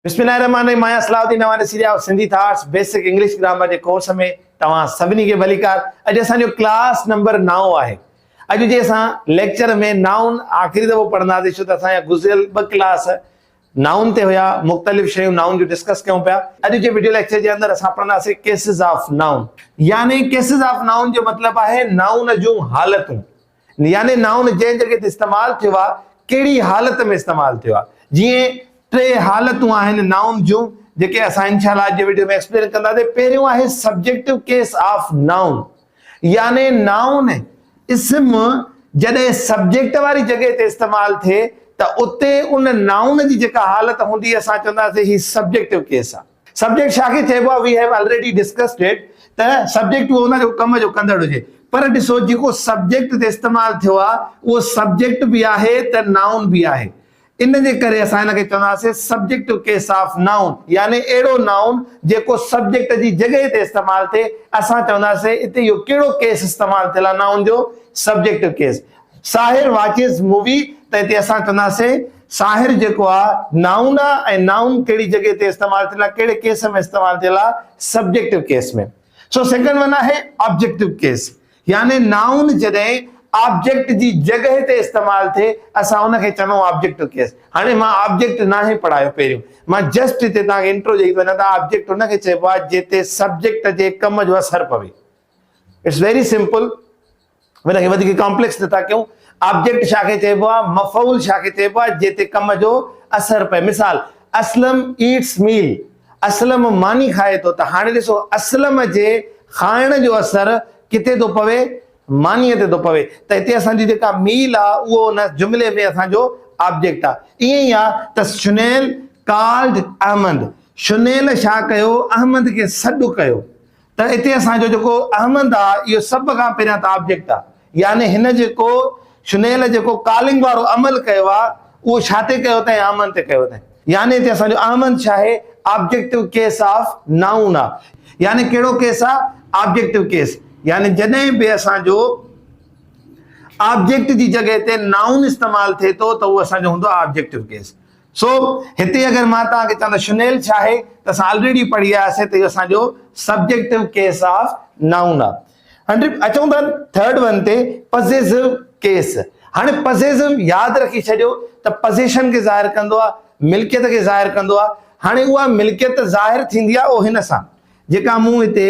بسم الله الرحمن الرحيم مايا Salah Uddin Nawani series of Sindhi thoughts basic English grammar جي ڪورس ۾ توهان سڀني کي ڀليڪار اڄ اسان جو ڪلاس نمبر 9 آهي اڄ جي اسان ليڪچر ۾ نائون آخري دفعو پڙهنداسي ڇو ته اسان جا گذريل ٻه ڪلاس نائون تي هيا مختلف شيون نائون جو ڊسڪس ڪيون پيا اڄ جي ويڊيو ليڪچر جي اندر اسان پڙهنداسي ڪيسز آف نائون يعني ڪيسز آف نائون جو مطلب آهي نائون جون حالتون يعني نائون جنهن جڳهه تي استعمال ٿيو آهي، ڪهڙي حالت ۾ استعمال ٿيو آهي. جيئن ٽي حالتون آهن نائون جون، جيڪي اسان انشاء الله اڄ جي وڊيو ۾ ايڪسپلين ڪنداسين. پهريون آهي سبجيڪٽو ڪيس آف نائون، يعني نائون، اسم، جڏهن سبجيڪٽ واري جڳهه تي استعمال ٿئي ته اتي ان نائون جي جيڪا حالت هوندي اسان چونداسين هي سبجيڪٽو ڪيس آهي. سبجيڪٽ ڇا کي چئبو آهي، we have already discussed it ته سبجيڪٽ اهو هوندو آهي جيڪو ڪم جو ڪندڙ هجي پر ڏسو جيڪو سبجيڪٽ هتي استعمال ٿيو آهي اهو سبجيڪٽ به آهي ته نائون به آهي ان جي ڪري اسان هن کي چونداسين سبجيڪٽ ان ڪيس آف نائون يعني اهڙو نائون جيڪو سبجيڪٽ جي جڳهه تي استعمال ٿئي اسان چونداسين هتي اهو ڪهڙو ڪيس استعمال ٿيل آهي نائون جو subject case Sahir watches movie ته هتي اسان چونداسين ساحر جيڪو آ نائون آ ۽ نائون ڪهڙي جڳهه تي استعمال ٿيل آ ڪهڙي ڪيس ۾ استعمال ٿيل آ subjective case ۾ so second one آهي آبجيڪٽو ڪيس يعني نائون جڏهن آبجيڪٽ جي جڳهه تي استعمال ٿئي اسان ان کي چوندا آهيون آبجيڪٽو ڪيس هاڻي مان آبجيڪٽ ناهي پڙهايو پهريون مان جسٽ هتي توهان کي انٽرو ڏئي ٿو وڃان ته آبجيڪٽ ان کي چئبو آ جتي سبجيڪٽ جي ڪم جو اثر پوي اٽس ويري سمپل هن کي وڌيڪ ڪامپليڪس نه ٿا ڪيون. آبجيڪٽ ڇا کي چئبو آهي؟ مفعول ڇا کي چئبو آهي؟ جنهن تي ڪم جو اثر پئي. مثال، اسلم eats meal اسلم ماني کائي ٿو ته هاڻي ڏسو اسلم جي کائڻ جو اثر ڪٿي ٿو پوي؟ مانيء تي ٿو پوي ته هتي اسان جي جيڪا ميل آهي اهو ان جملي ۾ اسان جو آبجيڪٽ آهي. ائين ئي آهي ته شنيل called احمد شنيل ڇا ڪيو؟ احمد کي سڏ ڪيو. ته اتي اسان جو جيڪو احمد آ اهو سڀ کان پهريان ته آبجيڪٽ آ يعني هن جيڪو شنيل جيڪو ڪالنگ وارو عمل ڪيو آ اهو ڇا تي ڪيو اٿائين احمد تي ڪيو اٿائين يعني اتي اسان جو احمد ڇا آهي آبجيڪٽو ڪيس آف نائون آ يعني ڪهڙو ڪيس آ آبجيڪٽو ڪيس يعني جڏهن به اسان جو آبجيڪٽ جي جڳهه تي نائون استعمال ٿئي ٿو ته اهو اسان جو هوندو آ آبجيڪٽو ڪيس. سو هتي اگر مان توهان کي چوان ته شنيل ڇا آهي ته اسان آلريڊي پڙهي آياسين ته اهو اسان جو سبجيڪٽو ڪيس آف نائون آهي. هاڻي اچون ٿا ٿرڊ ون تي پزيسو ڪيس. هاڻي پزيسو ياد رکي ڇڏيو ته پزيشن کي ظاهر ڪندو آهي، ملڪيت کي ظاهر ڪندو آهي. هاڻي اها ملڪيت ظاهر ٿيندي آهي او هن سان جيڪا مون هتي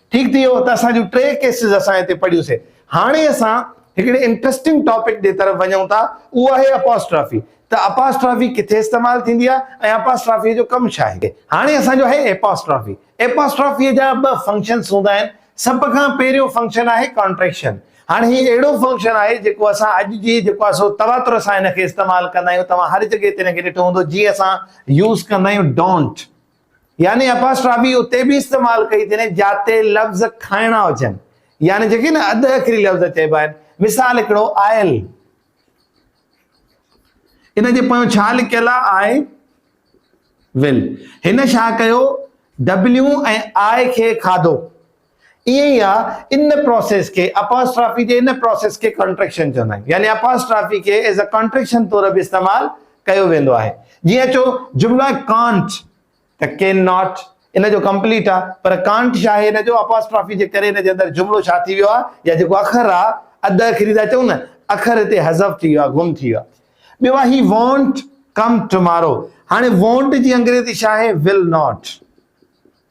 ٺيڪ ٿي ويو ته اسان جون ٽي ڪيسز اسان هتي پڙهيون سي. هاڻي اسان هڪڙي انٽرسٽنگ ٽاپڪ جي طرف وڃون ٿا اهو آهي اپاسٽرافي ته اپاسٽرافي ڪٿي استعمال ٿيندي آهي ۽ اپاسٽرافي جو ڪم ڇا آهي. هاڻي اسان جو آهي اپاسٽرافي. اپاسٽرافي جا ٻه فنڪشنس هوندا آهن. سڀ کان پهريون فنڪشن آهي ڪانٽريڪشن. هاڻي هي اهڙو فنڪشن آهي جيڪو اسان اڄ جي جيڪو آهي سو تواتر سان هن کي استعمال ڪندا آهيون توهان هر جڳهه تي هن کي ڏٺو هوندو جي اسان يوز ڪندا آهيون ڊونٽ يعني اپاسٽرافي اتي به استعمال ڪئي ٿي وڃي جاتي لفظ کائڻا هجن يعني جيڪي نه اڌ اکري لفظ چئبا آهن مثال هڪڙو آيل ان جي پويان ڇا لکيل آهي آء ول هن ڇا ڪيو ڊبليو ۽ آء کي کاڌو ائين ئي آ ان پروسيس کي اپاسٽرافي جي ان پروسيس کي ڪانٽريڪشن چوندا آهن يعني اپاسٽرافي کي ايز ا ڪانٽريڪشن طور به استعمال ڪيو ويندو آهي جيئن چو جملا ڪانٽ ته ڪين ناٽ ان جو ڪمپليٽ آ پر ڪانٽ ڇا آهي ان جو اپاسٽرافي جي ڪري ان جي اندر جملو ڇا ٿي ويو آ يا جيڪو اکر آ اڌ اکري ٿا چئون نه اکر هتي حذف ٿي ويو آ گم ٿي ويو آ ٻيو آ هي وانٽ ڪم ٽمارو هاڻي وانٽ جي انگريزي ڇا آهي ول ناٽ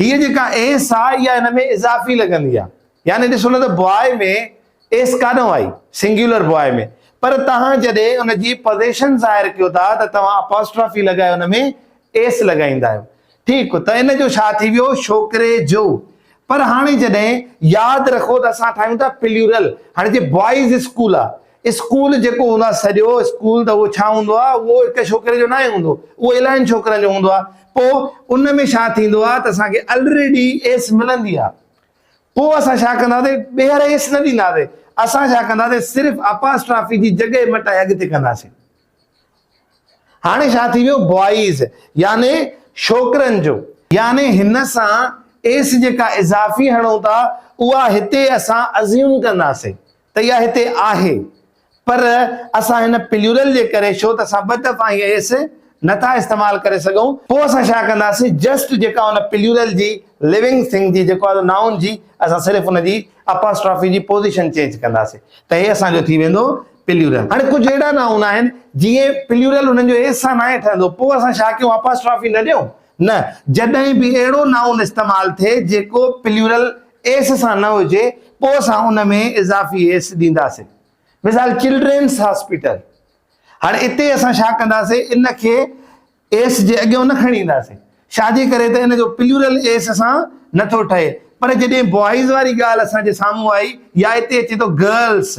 هيء جيڪا اين سا اها هن ۾ اضافي لڳندي آهي. يعني ڏسو نه ته باء ۾ ايس ڪانه آئي، سنگيولر باء ۾، پر توهان جڏهن ان جي پوزيشن ظاهر ڪيو ٿا ته توهان اپاسٽرافي لڳائي ان ۾ ايس لڳائيندا آهيو. ٺيڪ ته ان جو ڇا ٿي ويو ڇوڪري جو. پر هاڻي جڏهن ياد رکو ته اسان ٺاهيون ٿا پليورل، هاڻي جي بوائز اسڪول آهي اسڪول جيڪو هوندو آهي سڄو اسڪول ته اهو ڇا هوندو آهي اهو هڪ ڇوڪري جو ناهي هوندو اهو الاهين ڇوڪرن جو هوندو آهي پوء ان ۾ ڇا ٿيندو آهي ته اسان کي الريڊي ايس ملندي آهي پوء اسان ڇا ڪنداسي ٻيهر ايس نه ڏينداسي اسان ڇا ڪنداسي صرف اپاسٽرافي جي جڳهه مٽائي اڳتي ڪنداسي هاڻي ڇا ٿي ويو بوائز يعني ڇوڪرن جو يعني هن سان ايس جيڪا اضافي هڻون ٿا اها هتي اسان ازيوم ڪنداسي ته اها هتي آهي پر اسان هن پليورل جي ڪري شو ته اسان ٻه دفعا هي ايس نه ٿا استعمال ڪري سگهون پوء اسان ڇا ڪنداسين جسٽ جيڪا ان پليورل جي لونگ ٿنگ جي جيڪو آهي نائون جي اسان صرف ان جي اپاسٽرافي جي پوزيشن چينج ڪنداسين ته هي اسان جو ٿي ويندو پليورل هاڻي ڪجهه اهڙا نائون آهن جئين پليورل انهن جو ايس سان ناهي ٺهندو پوء اسان ڇا ڪيون اپاسٽرافي نه ڏيون نه، جڏهن به اهڙو نائون استعمال ٿئي جيڪو پليورل ايس سان نه هجي، پوء اسان ان ۾ اضافي ايس ڏينداسين. مثال، چلڊرينس هاسپيٽل. هاڻي اتي اسان ڇا ڪنداسين، ان کي ايس جي اڳيون نه کڻي اينداسين، ڇاجي ڪري ته ان جو پليورل ايس سان نه ٿو ٺهي. پر جڏهن بوائز واري ڳالهه اسان جي سامهون آئي يا اتي اچي ٿو گرلس.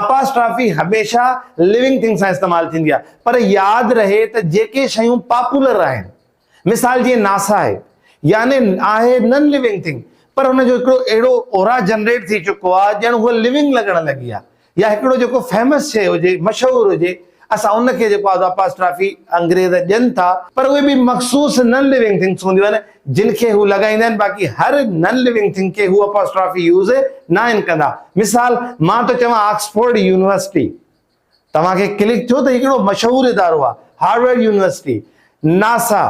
اپاسٽرافي هميشه لونگ ٿنگ سان استعمال ٿيندي آهي پر ياد رهي ته جيڪي شيون پاپولر آهن مثال جيئن ناسا آهي يعني آهي نن لونگ ٿنگ پر ان جو هڪڙو اهڙو اورا جنريٽ ٿي چڪو آهي ڄڻ هوء لونگ لڳڻ لڳي آهي يا هڪڙو جيڪو فيمس شيء هجي مشهور هجي اسان ان کي جيڪو آزو اپاسٽرافي انگريز ڏين ٿا پر اهي به مخصوص نن ليونگ ٿنگس هونديون آهن جن کي هو لڳائيندا آهن باقي هر نن ليونگ ٿنگ کي هو اپاسٽرافي يوز ناهن ڪندا مثال مان ٿو چوان آڪسفورڊ يونيورسٽي توهان کي ڪلڪ ٿيو ته هي ڪهڙو مشهور ادارو آهي هارورڊ يونيورسٽي ناسا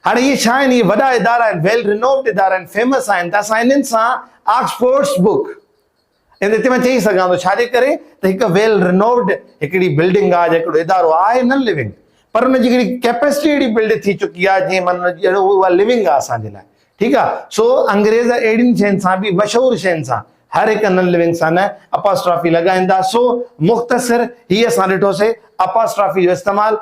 هاڻي اهي ڇا آهن اهي وڏا ادارا آهن ويل رينووڊ ادارا آهن فيمس آهن ته اسان انهن سان آڪسفورڊس بوڪ ان تي مان چئي سگهان ٿو ڇاجي ڪري ته هڪ ويل رنووڊ هڪڙي بلڊنگ آهي جا هڪڙو ادارو آهي نن لوينگ پر ان جي هڪڙي ڪيپيسٽي اهڙي بلڊ ٿي چڪي آهي جيئن من اها لوينگ آهي اسان جي لاء ٺيڪ آهي سو انگريز اهڙين شين سان به مشهور شين سان هر هڪ نن لوينگ سان نه اپاسٽرافي لڳائين ٿا سو مختصر هي اسان ڏٺوسي اپاسٽرافي جو استعمال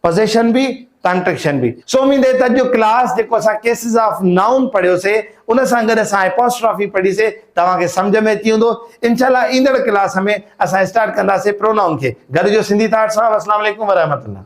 پزيشن به ڪانٽريڪشن به. سو اميد آهي ته اڄ جو ڪلاس جيڪو اسان ڪيسز آف نائون پڙهيو سي ان سان گڏ اسان اپاسٽرافي پڙهي سي توهان کي سمجهه ۾ اچي ويندو انشاء الله ايندڙ ڪلاس ۾ اسان اسٽارٽ ڪنداسي پرونائون کي گڏ جو سنڌي ٿاٽ صاحب السلام عليڪم ورحمة الله.